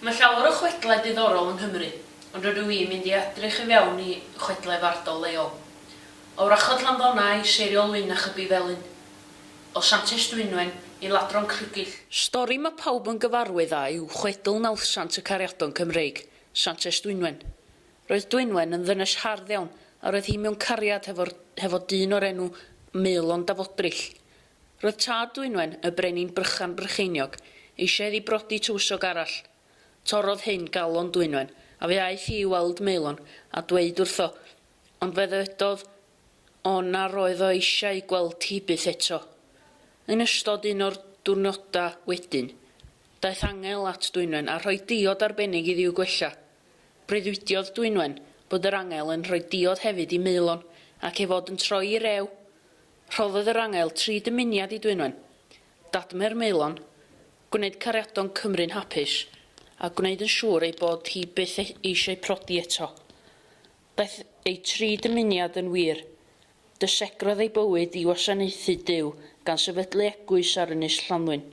Mae llawer o chwedlau diddorol yng Nghymru, ond rydw i'n mynd i edrych i fewn i chwedlau fardol leol. O wrachod Llanddonnau i Seiriol Wyn a Chybi Felin. O Santes Dwynwen i Ladron Crugich. Stori mae pawb yn gyfarwydd â yw chwedl Nawddsant y Cariadon Cymreig, Santes Dwynwen. Roedd Dwynwen yn ddynes hardd iawn a roedd hi mewn cariad hefo dyn o'r enw Maelon Dafodrill. Roedd tad Dwynwen, y brenin Brychan Brycheiniog, eisiau iddi brodi tywysog arall. Torrodd hyn galon Dwynwen, a fe aeth hi i weld Maelon a dweud wrtho, ond fe ddywedodd o na roedd o eisiau gweld hi byth eto. Yn ystod un o'r diwrnodau wedyn, daeth angel at Dwynwen a rhoi diod arbennig iddi i'w gwella. Breuddwydiodd Dwynwen bod yr angel yn rhoi diod hefyd i Maelon ac ei fod yn troi i rew. Rhoddodd yr angel tri dymuniad i Dwynwen, dadmau'r maelon, gwneud cariadon Cymru'n hapus, a gwneud yn siŵr ei bod hi byth eisiau prodi eto. Daeth ei tri dymuniad yn wir. Dysegrodd ei bywyd i wasanaethu Duw gan sefydlu eglwys ar Ynys Llanddwyn.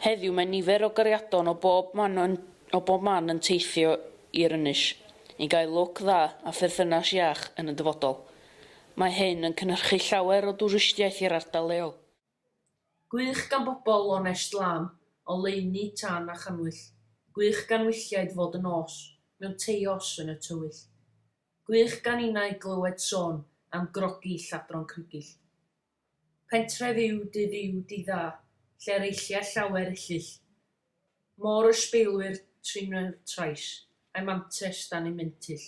Heddiw mae nifer o gariadon o bob man yn o bob man yn teithio i'r ynys, i gael lwc dda a pherthynas iach yn y dyfodol. Mae hyn yn cynhyrchu llawer o dwristiaeth i'r ardal leol. Gwych gan bobl lonest lân, oleuni, tân a channwyll. Gwych gan wylliaid fod yn nos, mewn teios yn y tywyll. Gwych gan innau glywed sôn am grogi lladron crygill. Pentref yw dydd yw dydd dda, lle'r eillia llawer ellyll. Môr ysbeilwyr trin y trais, a'i mantes dan ei mentyll.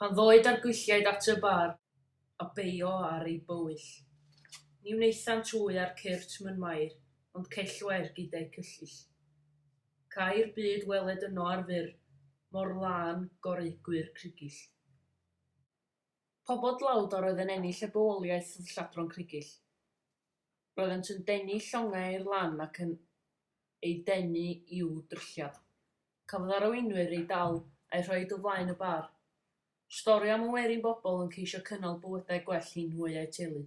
Pan ddôi dargylliaid at y bar, a beio ar ei bywyll, ni wnaethant wy ar cyrrt myn Mair, ond cellwair gyda'u cyllyll. Cai'r byd weled yno ar fur, mor lân goreugwyr crygyll. Pobl dlawd a roedd yn ennill y bywoliaeth oedd lladron crygyll. Roeddent yn denu llongau i'r lan ac yn eu denu i'w dryllio. Cafodd arweinwyr eu dal a'u rhoi o flaen y bar. Stori am y werin bobl yn ceisio cynnal bywydau gwell i nhw a'u teulu.